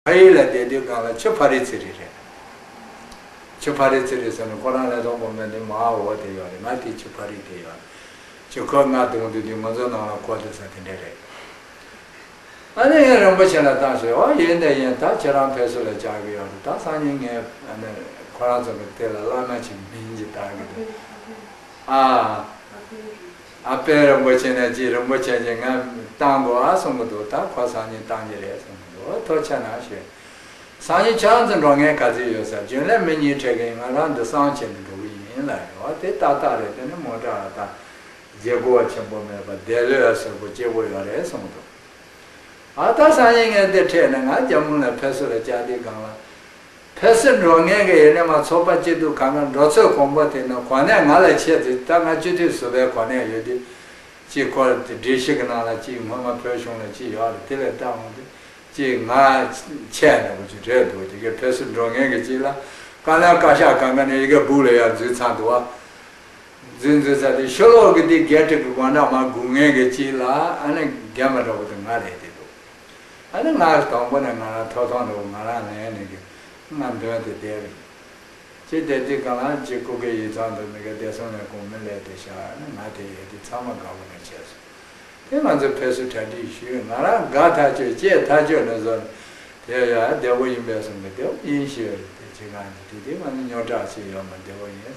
ཕ་ཡུལ་ལ་བསྡད་དུས་སྒང་ལ་ཆུ་ཕ་རི་ཚི་རི་རེད། ཆུ་ཕ་རི་ཚི་རི་ཟེར་ནས་ཁོ་རང་ལས་དོག་པོ་མེད་དུས་མ་འོ་དེ་ཡོད་རེད་ང་དེ་ཆུ་ཕ་རི་དེ་ཡོད་རེད་ཅེས་ཁོས་ང་བརྡུང་དུས་དེ་ང་ཚོའི་ནང་ལ་གོ་ཐུབ་ས་དེ་འདྲ་རེད། ཨ་ནེ་ཡིན་རིན་པོ་ཆེ་ལ་བཏང་ཞེས་ཨོ་ཡིན་དེ་ཡིན་ད་ཁྱེད་རང་ཕེབས་བསུ་ལ་བཅར་གི་ཡོད་རེད་ད་སང་ཉིན་ངས་ཨ་ནེ་ཁོ་རང་ཚོ་གི་དེ་ལ་བླ་ན་ཆེ་བའི་མིང་ཅིག་བཏང་གི་འདུག་ཨ། ཨ་ཕས་རིན་པོ་ཆེ་ནས་ཅིག་རིན་པོ་ཆེ་ཅིག་ང་བཏང་དགོ་ཨ་གསུང་གི་འདུག་ད་ཁོ་སང་ཉིན་བཏང་གི་རེད་གསུང་གི་འདུག་ཐོ་ཆ་ན་ཞུ། སང་ཉིན་ཆང་འཛིན་འགྲོ་ངའི་ག་ཚོད་ཡོད་ས་རྒྱུན་ལས་མི་གཉིས་ཕྲད་གིན་ང་རང་འདི་སང་བྱེད་ནས་འགྲོ་གི་ཡིན་ལ་རེ་བ་དེ་ཏག་ཏག་རེད་དེ་ནི་མོ་བྲག་ལ་ཐང་རྒྱལ་སྒོ་བ་ཆེན་པོ་མེད་པ་བདེ་ལོས་ཨ་སོལ་པོ་སྐྱེ་བོ་ཡོད་རེད་གསུང་གི་འདུག་ཨ་ད་སང་ཉིན་ངས་འདི་ཕྲད་ནས་ང་རྒྱ་མུ་ལ་ཕེབས་སུ་ལ་ལྕགས་རྡིལ་སྒང་ལ། ཕལ་སེ་འབྲོག་གནས་ཀྱི་ཡེ་ནས་མ་ཚོགས་པ་གཅིག་འདུག་གང་ན་འབྲོག་ཚོས་གོང་པོ་དེ་ན་གོ་གནས་ང་ལ་ཆད་དེ་ད་ང་སྤྱི་འཐུས་ཟུར་པའི་གོ་གནས་ཡོད་དུས་གཅིག་ཁོ་ར་དེ་འདྲི་ཞིག་གནང་ལ་གཅིག་སྔོན་མ་བོད་གཞུང་ལ་གཅིག་ཡོག་ར་དེ་ལས་བལྟ་འོང་དུས་གཅིག་ང་ཆད་ནས་འོང་རྒྱུ་རེད་འདུག་དེ་གའི་ཕལ་སེ་འབྲོག་གནས་ཀྱི་གཅིག་ལ་ཀ་ན་བཀའ་ཤག་གང་ག་ནས་ཡི་གེ་སྦུག་ལ་ཡར་འཛུལ་ཚར་འདུག་བ་འཛུལ་འཛུལ་ཚར་དེ་ཤོ་ལོག་གི་དེ་གའི་བཀྲིག་གི་དགོང་གྲངས་མ་དགུ་ལྔའི་གི་གཅིག་ལ་ཨ་ན་རྒན་པ་འདྲ་བོ་དེ་ང་རེད་དེ་འདུག། ཨ་ནི་ང་རང་དང་པོ་ནས་ང་རང་ཐོག་ཐོག་ནས་ང་རང་ལན་ནི་གི་ང་འདོན་ཏེ་བསྡད་རེད། ཅེས་བསྡད་དེ་གང་ལགས་ཀྱི་སྐུ་སྒེར་ཡིག་ཚང་དུ་ནི་གི་བསྡད་སོང་ནས་གོང་མི་ལས་དེ་ཤར་ཨ་ནི་ང་དེ་ཡས་དེ་ཚང་མ་དགའ་པོ་ནས་བྱས་སོང། དེ་ང་ཚོས་ཕེབས་བསུ་གྲ་སྒྲིག་ཞུས་ང་རང་དགའ་ཐག་ཆོད་ཅེས་ཐག་ཆོད་ནས་བཟོ་ནས་དེ་ཡས་ཡ་བདེ་བོ་ཡིན་པས་སོང་གི་བདེ་བོ་ཡིན་ཞེས་བརྗོད་དེ་ཁྱེད་རང་གི་དུས་དེ་ང་ནི་སྨྱོ་བྲག་ཆེ་ཡོད་མ་བདེ་བོ་ཡིན།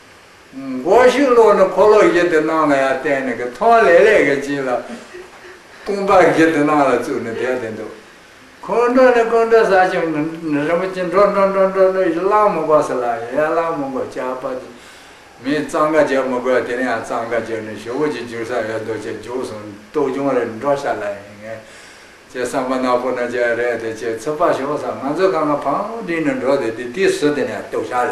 སྒོ་ཞིག་བསློགས་ནས་ཕོ་ལོག་བཞི་དེ་སྣང་ལ་ཡང་བསྟན་ནས་ཀྱི་ཐོང་ལེ་ལེ་ཀྱི་བྱིན་ལ། ཀུན་དཔའ་བཞི་དེ་སྣང་ལ་བཙུགས་ནས་བསྡད་དེ་འདུག། ཁོང་ཁྲོ་ནི་ཀུན་དགའ་བཟའ་ཆེན་པོ་རིན་པོ་ཆེ་འགྲོ་འགྲོ་འགྲོ་འགྲོ་འགྲོ་ཡི་གླང་མོ་འགོག་སྲིད་ལ་ཡང་ཡང་གླང་མོ་འགོག་བྱ་བ་དེ། མིས་གཙང་ཀ་བྱེད་མི་དགོས་དེ་ནས་ཡང་གཙང་ཀ་བྱས་ནས་ཞོ་བོ་ཅིག་འཇུག་ས་ཡོད་འདོག་ཅེས་འཇུག་སོང་ལྟོ་རྒྱུང་རེ་འགྲོ་ཤ་ལ་ཡིན་ངེས། ཅེས་བསམ་པ་ནག་པོ་ན་བྱས་རེད་དེ་ཅེས་ཚུར་ཕར་ཞོག་ས་ང་ཚོས་ཁ་ང་ཕང་བསྒྲིགས་ནས་འགྲོ་དེ་དེ་དུས་སུ་དེ་ནས་ལྟོ་ཤ་ལ།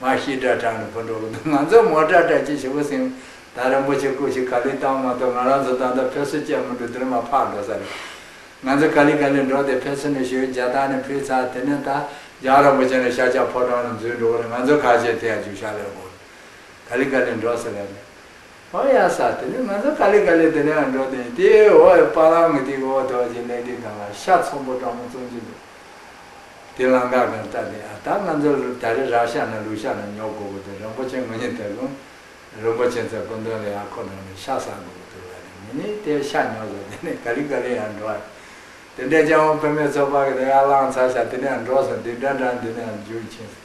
ང་ཤི་སྒྲ་གྲགས་ནས་བུ་འགྲོ་གི་འདུག་ང་ཚོའི་མོ་སྒྲ་གྲགས་ཀྱི་བྱེད་པོ་སེང་དར་རིན་པོ་ཆེ་སྐུ་ཞིག་ག་ལེར་བཏང་བ་མ་གཏོགས་ང་རང་ཚོ་ད་ལྟ་ཕེབས་བསུ་བྱས་མི་འདུག་དེ་རིང་མ་ཕར་འགྲོ་ས་རེད། ང་ཚོ་ག་ལི་ག་ལི་འགྲོ་དེ་ཕེབས་བསུ་ནས་ཞོལ་རྒྱལ་ཐང་ནས་ཕུད་ཚར་དེ་ནས་ད་རྒྱང་རིན་པོ་ཆེ་ནས་ཤ་ཆག་ཕོ་བྲང་ནས་འཛུལ་འགྲོ་གི་རེད་ང་ཚོའི་ཁ་ཆེ་དེ་ཡང་བཅུ་ཞག་ལས་འགོར་ག་ལི་ག་ལི་འགྲོ་ས་རེད། ཧོ་ཡ་ས་དེ་ནས་ང་ཚོ་ཀ་ལི་ཀ་ལི་དེ་ནའང་འགྲོ་དེ་ཡིན་དེའི་འོག་གི་པ་ལང་གི་དེའི་འོག་དོག་ཅིག་ལེགས་དེ་དང་ལ་ཤ་ཚོམ་པོ་སྤྲང་མོ་བཙོང་གྱི་འདུག་དེ་ལང་ཀ་གང་ལྟ་དེ་ཨ་ད་ང་ཚོ་ད་རེ་རག་ཤ་ན་ལུག་ཤ་ན་ཉོ་དགོ་དགོ་དེ་རིན་པོ་ཆེན་ངོ་ཉེ་དེ་ལུང་རིན་པོ་ཆེན་ཚ་དགོན་དོན་ལས་ཡང་ཁོ་རང་ནས་ཤ་ཟ་དགོ་དགོ་དུ་ལ་རེ་མི་ནི་དེ་ཤ་ཉོ་ཟ་དེ་ནས་ཀ་ལི་ཀ་ལི་ཡང་འགྲོ་ཨ་དེ་འདྲ་སྤྱང་བོ་བོད་མའི་ཚོ་པ་གི་དེ་ཡར་ལང་ཚ་ཤ་དེ་ནའང་འགྲོ་སོང་དེ་འདྲ་འདྲ་དེ་ནའང་འཇུག་ཕྱིན་སོང།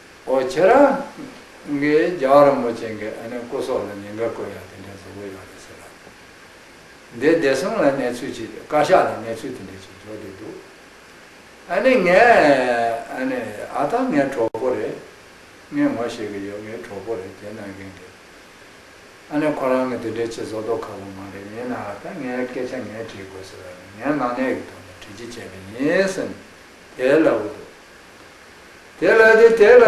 ཨོ་ཁྱེད་རང་གིས་རྒྱ་གར་རིན་པོ་ཆེ་འགའི་ཨ་ནེ་སྐུ་སོགས་ལ་ཉེས་འགལ་བཀོད་ཡག་དེ་འདྲའི་བཟོ་བོ་ཡོད་རེད་ཟེར་ལབ་ནས་འདས་བདེ་སྲུང་ལ་གནས་ཚུལ་ཅིག་བཀའ་ཤག་ལ་གནས་ཚུལ་དེ་འདྲའི་ཅིག་འཇོག་བསྡད་འདུག་ཨ་ནེ་ངས་ཨ་ནེ་ཨ་ཐང་ངའི་གྲོགས་པོ་རེད་ངས་ངོ་ཤེས་གི་ཡོད་ངའི་གྲོགས་པོ་རེད་དེ་གནང་མཁན་རེད་ཨ་ནེ་ཁོ་རང་གི་དེ་འདྲའི་ཆེ་བཟོ་དོག་ཁ་པོ་མ་རེད་ཡིན་ནའང་ད་ངའི་སྐད་ཆ་ངས་དྲིས་དགོས་ཟེར་བ་ནི་ངའི་ནང་གནས་ཀྱི་ཐོག་ནས་དྲིས་ཅི་བྱས་པ་ཡིན་སེམས་དེ་ལབ་འདུག་དེ་ལ་དེ་དེ་ལ།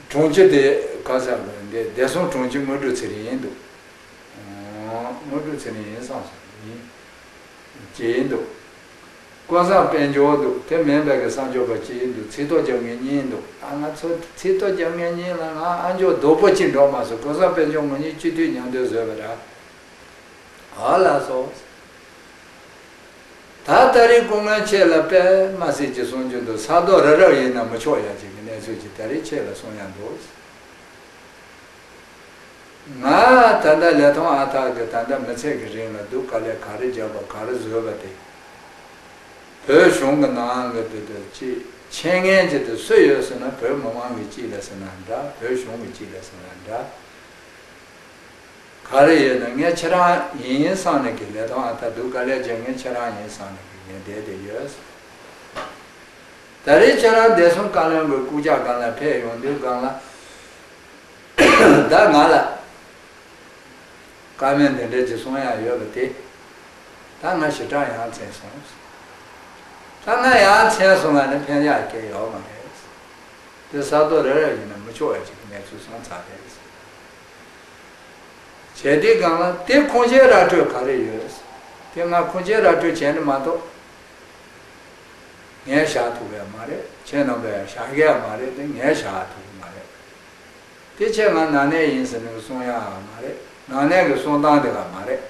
དྲུང་ཆེ་དེ་ག་ས་དགོན་དེ་བདེ་སྲུང་དྲུང་ཆེ་དངོས་གྲུབ་ཚེ་རིང་ཡིན་འདུག། དངོས་གྲུབ་ཚེ་རིང་ཡིན་བསམ་སོང། ཡིན། ཀྱི་ཡིན་འདུག། དཀོན་བཟང་དཔལ་འབྱོར་འདུག་དེ་མེད་པའི་གི་བསམ་ཆོས་པ་གཅིག་ཡིན་འདུག་ཚིག་ཐོ་རྒྱབ་ངེས་གཉིས་འདུག་ཨ་ང་ཚོ་ཚིག་ཐོ་རྒྱབ་ངེས་གཉིས་ལ་ང་ཨ་མཆོག་རྡོ་པོ་གཅིག་འགྲོ་མ་སོང་དཀོན་བཟང་དཔལ་འབྱོར་ངོ་གཉིས་སྤྱི་འཐུས་མྱང་འདོད་བཟོས་པ་འདྲ། ཨ་ལ་སོགས། ད་ལྟ་རི་སྐོང་མོན་ཆེ་ལ་པདྨ་གསེར་གྱི་གསུང་རྒྱུན་དུ་ས་རྡོ་ར་རག་ཡིན་ན་མི་ཆོག་ཡ་གཅིག་གི་གནས་ཚུལ་གྱི་ད་རི་ཁྱེད་ལ་གསུང་ཡ་འདུག་ང་ད་ལྟ་ལས་མཐོང་ཨ་ཐག་གི་ད་ལྟ་མི་ཚད་གི་རིང་ལ་འདུག་ག་ལས་ག་རི་རྒྱབ་པ་ག་རི་བཟོས་པ་དེ་བོད་གཞུང་གི་ནང་གི་དེ་དེ་གཅིག་མཆན་ངན་གྱི་དེ་སུ་ཡོད་ཟེར་ན་བོད་མི་མང་གི་གཅིག་ལས་ཟེར་ན་འདྲ་བོད་གཞུང་གི་གཅིག་ལས་ཟེར་ན་འདྲ། ག་རེ་ཡོད་ན་ངས་ཁྱེད་རང་ཡིན་ཡིན་སང་ནས་ཀྱི་ལས་དོན་ཨ་ཐ་སྡུག་ག་ལས་རྗེས་ངས་ཁྱེད་རང་ཡིན་སང་ནས་ཀྱི་ངས་བསྡད་དེ་ཡོད་ཟེར། ད་རེས་ཁྱེད་རང་བསྡད་སོང་བཀའ་བློན་དགོས་སྐུ་ཇག་སྒང་ལ་ཕེབས་ཡོང་དུས་སྒང་ལ་བདག་ང་ལ། བཀའ་བློན་འདི་འདྲ་ཅི་གསུང་ཡག་ཡོད་པ་དེ། ད་ང་ཞེ་དྲག་ཡང་འཚེངས་སོང་ཟེར། ད་ང་ཡང་འཚེངས་སོང་ང་ནི་ཕན་ཡག་སྐྱེ་ཡོག་མ་རེད་ཟེར། དེ་ས་རྡོ་རེ་རེར་ཡིན་ན་མི་ཆོག་ཡ་གཅིག་གི་གནས་ཚུལ་སོང་ཚར་རེད་ཟེར། བྱས་དེའི་སྒང་ལ་དེ་ཁུངས་སྐྱེལ་ར་སྤྲོད་ག་རེ་ཡོད། དེ་སྔ་ཁུངས་སྐྱེལ་ར་སྤྲོད་བྱས་ནི་མ་གཏོགས། ངས་བཞག་ཐུབ་པ་ཡང་མ་རེད་ཁྱེད་རྣམ་པས་བཞག་གི་ཡང་མ་རེད་དེ་ངས་བཞག་ཐུབ་ཀྱི་མ་རེད། དེ་ཁྱེད་ང་ནང་གནས་ཡིན་ཟེར་ནས་གི་གསུང་ཡང་མ་རེད་ནང་གནས་གི་གསུང་སྟངས་དེ་ག་མ་རེད།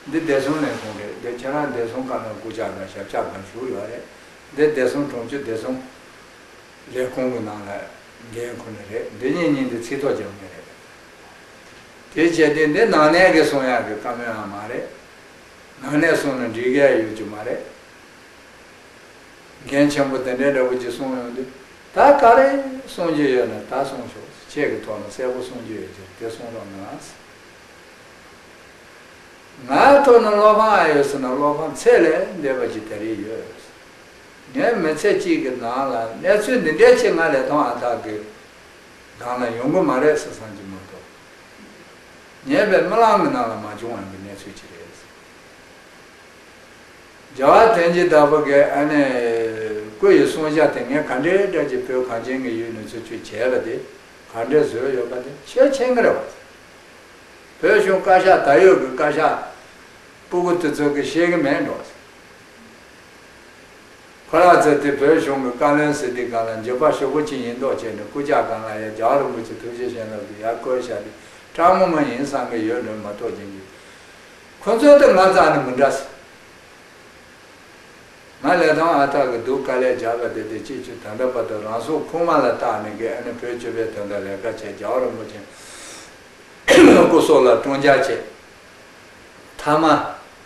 འདི་བདེ་སྲུང་ལས་ཁུངས་རེད་འདི་ཁྱེད་རང་བདེ་སྲུང་བཀའ་བློན་སྐུ་ཕྱྭ་དང་ཞབས་ཕྱྭ་གང་བཞུགས་ཡོད་རེད་འདི་བདེ་སྲུང་གྲོང་ཆུ་བདེ་སྲུང། ལས་ཁུངས་ཀྱི་ནང་ལས་འགན་ཁོ་ནས་རེད་འདི་གཉིས་གཉིས་འདི་ཚིག་ཐོག་རྒྱབ་ངེས་རེད། དེ་བྱས་ཏེ་འདི་ནང་གནས་ཀྱི་གསུང་ཡག་གི་བཀའ་མོལ་ཡང་མ་རེད། ནང་གནས་གསུང་ན་འགྲིག་གི་ཡ་ཡོད་རྒྱུ་མ་རེད། འགན་ཆེན་པོ་དེ་འདྲའི་འདྲ་པོ་གྱིས་གསུང་ཡོང་དུས་ད་ག་རེ་གསུང་རྒྱུ་ཡོད་ན་ད་གསུང་ཤོག་ཁྱེད་ཀྱི་ཐོག་ན་གསལ་པོ་གསུང་རྒྱུ་ཡོད་ཕྱིར་དེ་གསུང་རོགས་གནང། ང་ཐོག་ན་བློ་ཕམ་ཡོད་ཟེར་ན་བློ་ཕམ་ཚད་ལས་འདས་པ་ཅིག་ད་རེས་ཡོད། ངས་མི་ཚེ་གཅིག་གི་ནང་ལ་གནས་ཚུལ་འདི་འདྲའི་ཆེད་ང་ལས་ཐོག་ཨ་ཐག་གི་སྒང་ལ་ཡོང་གི་མ་རེད་ཟེར་སང་གི་མ་གཏོགས་ཉེས་པའི་རྨི་ལམ་གི་ནང་ལ་མ་བྱུང་བ་འདི་གནས་ཚུལ་གཅིག་རེད། རྒྱལ་བ་བསྟན་འཇིག་ལྟ་བུ་འགས་ཨ་ནེ་སྐུ་ཡི་གསུང་བཤད་དེ་ངས་ག་འདྲའི་དགྲ་གཅིག་བོད་གངས་ཅན་གྱི་ཡུལ་ནས་ཚུར་བཅུག་བྱས་པ་དེ་ག་འདྲའི་བཟོས་ཡོད་པ་དེ་ཤེས་ཆེན་གི་རེད་བ་ཚ། བོད་གཞུང་བཀའ་ཤག་ད་ཡོད་གི་བཀའ་ཤག་སྤུ་གུ་དེ་ཚོ་གི་ཤེས་གི་མེད་འགྲོ་བ་ཚ། ཁོ་རང་ཚོས་དེ་བོད་གཞུང་གི་བཀའ་བློན་ཟེར་དུས་གང་ལ་འགྱོད་པ་ཤོག་བུ་གཅིག་ཡིན་མདོག་བྱས་ནས་སྐུ་ཇག་གང་ལ་ཡ་རྒྱ་རིན་པོ་ཆེ་ཐུགས་རྗེ་ཞེན་ལབ་ཀྱི་ཡར་བསྐོལ་བཞག་དེ་སྤྲང་ངོ་མ་ཡིན་བསམ་གི་ཡོད་འདོད་མ་གཏོགས་རྒྱན་གྱི་ཁོ་ཚོའི་དེ་ང་ཙང་ནི་མི་འདྲ་ཟེར། ང་ལས་དང་ཨ་ཐག་གི་འདུག་དཀའ་ལས་རྒྱག་གི་དེ་དེ་སྤྱི་ཆུ་དང་འདྲ་པ་དང་རང་སྲོག་ཁུག་མ་ལ་བཏགས་ནས་དགེ་ཨ་ནི་བོད་སྤྱི་པའི་དོན་དང་ལས་ཀ་བྱས་རྒྱ་རིན་པོ་ཆེ་སྐུ་སྲོག་ལ་བཀྲོངས་རྒྱག་བྱས་མཐའ་མ།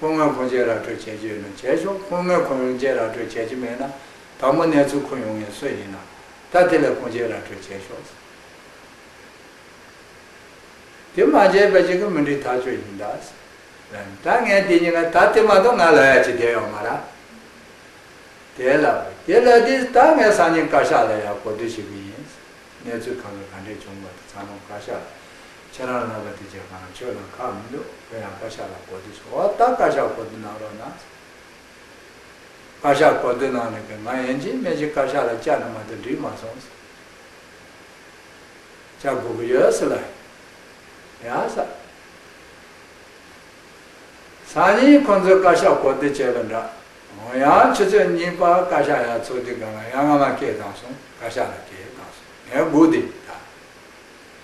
ཁོ་སྔོན་ཁོང་བཅས་ར་སྤྲོད་བྱེད་ཀྱི་ཡོད་ན་བྱས་ཆོག་ཁོ་སྔོན་ཁོང་རང་བཅས་ར་སྤྲོད་བྱེད་ཀྱི་མེད་ན་ད་མོ་གནས་ཚུལ་ཁུར་ཡོང་ངེས་སྲོལ་ཡིན། ད་དེ་ལས་ཁོང་བཅས་ར་སྤྲོད་བྱས་ཆོག། དེ་མ་བྱས་པ་ཞིག་གི་མི་འགྲིག་ཐག་ཆོད་ཡིན། ད་ངས་དེ་གཉིས་ལ་ད་དེ་མ་གཏོགས་ང་ལ་ཡ་ཅི་དེ་ཡང་མ་ར། དེ་ལ་དེ་ལ་དེ་ད་ངས་སང་ཉིན་བཀའ་ཤག་ལ་ཡ་གོ་དུས་ཞིག་གི་ཡིན། གནས་ཚུལ་གང་གི་གང་འདྲས་བྱུང་བ་དེ་ཚང་མ་བཀའ་ཤག་ལ། ཁྱེད་རང་ལགས་པ་དེ་ཅེས་གང་ལ་ཆོས་ལ་ཁག་མི་འདུག་བོད་ཡང་བཀའ་ཤག་ལ་གོ་བསྡུར་བྱེད་འོ་ད་བཀའ་ཤག་གོ་བསྡུར་གནང་རོགས་གནང། བཀའ་ཤག་གོ་བསྡུར་གནང་ནས་ང་ཡན་ཅིན་སྨད་ཅིག་བཀའ་ཤག་ལ་བཅར་ནས་མ་ཐུག་འགྲིག་མ་སོང། བཅར་དགོས་ཀྱི་ཡོད་སྲིད་ལ། ཡ་ས། སང་ཉིན་ཁོང་ཚོས་བཀའ་ཤག་གོ་བསྡུར་བྱས་པ་འདྲ། འོ་ཡང་ཆུ་ཚོད་གཉིས་པར་བཀའ་ཤག་ཡར་ཚོགས་དུས་གང་ལ་ཡང་ང་མ་སྐྱེས་གང་སོང་བཀའ་ཤག་ལ་སྐྱེས་གང་སོང་ངས་སྒུག་དེ་ད།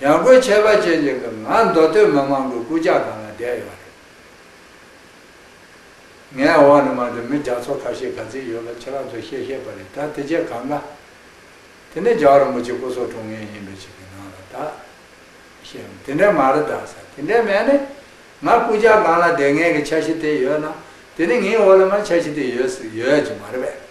ཡང་སྒོས་ཁྱད་པར་ཅན་གྱི་སྐབས་ང་མདོ་སྟོད་མི་མང་གི་སྐུ་ཕྱག་ནང་ལ་བསྡད་ཡོད་པ་རེད། ངས་འོག་ནས་མར་དུ་མི་རྒྱ་མཚོ་ཁ་ཤས་ག་ཚོད་ཡོད་ལ་ཁྱེད་རང་ཚོས་ཤེས་ཤེས་པ་རེད་ད་དེ་རྗེས་གང་དགའ། དེ་ནས་རྒྱ་རིན་པོ་ཆེ་སྐུ་སྲོག་དྲུང་ངེས་ཡིན་པའི་ཆེད་ཀྱི་ནང་ལ་ད། ཤེས་རམ་དེ་འདྲའི་མ་རེད་ད་ས་དེ་འདྲའི་མེད་ནས། ང་སྐུ་ཕྱག་ནང་ལ་བསྡད་ངེས་ཀྱི་འཆར་གཞི་དེ་ཡོད་ན། དེ་ནི་ངའི་འོག་ལ་མར་འཆར་གཞི་དེ་ཡོད་ཡོད་ཀྱི་མ་རེད་པས།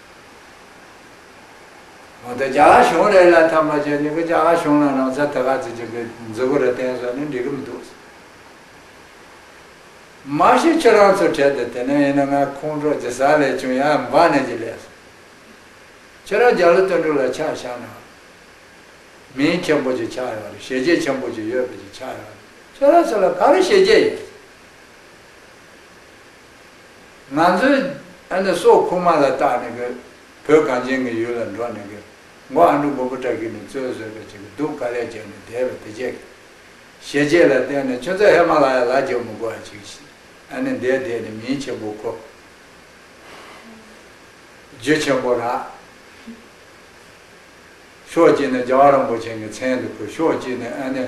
འོ་ད་རྒྱ་གཞུང་རེད་ལ་ཐབས་མ་བྱས་ནི་གི་རྒྱ་གཞུང་ལ་རང་ས་ད་ག་ཚོད་ཅིག་གི་མཛུ་གུ་ར་བསྟན་སོང་ནི་འགྲིག་གི་མི་འདུག། མ་གཞི་ཁྱོད་རང་ཚོ་གྲལ་དུ་དེ་ནས་ཡིན་ན་ང་ཁོང་ཁྲོ་ཇི་ས་ལས་བྱུང་ཡ་འབའ་ནས་ཀྱི་ལས་སོ། ཁྱོད་རང་རྒྱ་ལོ་དོན་དྲུག་ལ་ཆགས་བཞག་ན་མིང་ཆེན་པོ་ཅིག་ཆགས་ཡོང་རེད་ཞེ་བརྒྱད་ཆེན་པོ་ཅིག་ཡོད་པ་ཅིག་ཆགས་ཡོང་རེད་ཁྱོད་རང་ཚོ་ལ་ག་རེ་ཞེ་བརྒྱད་ཡོད། ང་ཚོའི་ཨ་ནི་སོག་ཁུག་མ་ལ་བཏགས་ནས་གི། བོད་གངས་ཅན་གི་ཡུལ་ལ་འགྲོ་ནས་གི། མགོ་ཨ་འབྲུག་མགོ་པོ་སྐྲ་གིས་ནི་བཙོས་བཟོས་པའི་ཆེ་གི་དུག་དཀར་ལས་རྒྱལ་ནས་དེས་པའི་དེ་བྱས་གི། ཞེ་བཅད་ལ་བརྟེན་ནས་ཁྱོད་ཚོ་ཧེ་མ་ལ་ཡ་ལ་རྒྱལ་མོ་གོ་ཨ་ཅིག་ཤི། ཨ་ནི་འདས་དེས་ནི་མིའི་ཆེན་པོ་ཁོ། རྒྱུ་ཆེན་པོ་ར། ཤོག་ཅིག་ནི་རྒྱལ་བ་རིན་པོ་ཆེན་གི་མཚན་དུ་ཁུར་ཤོག་ཅིག་ནི་ཨ་ནི།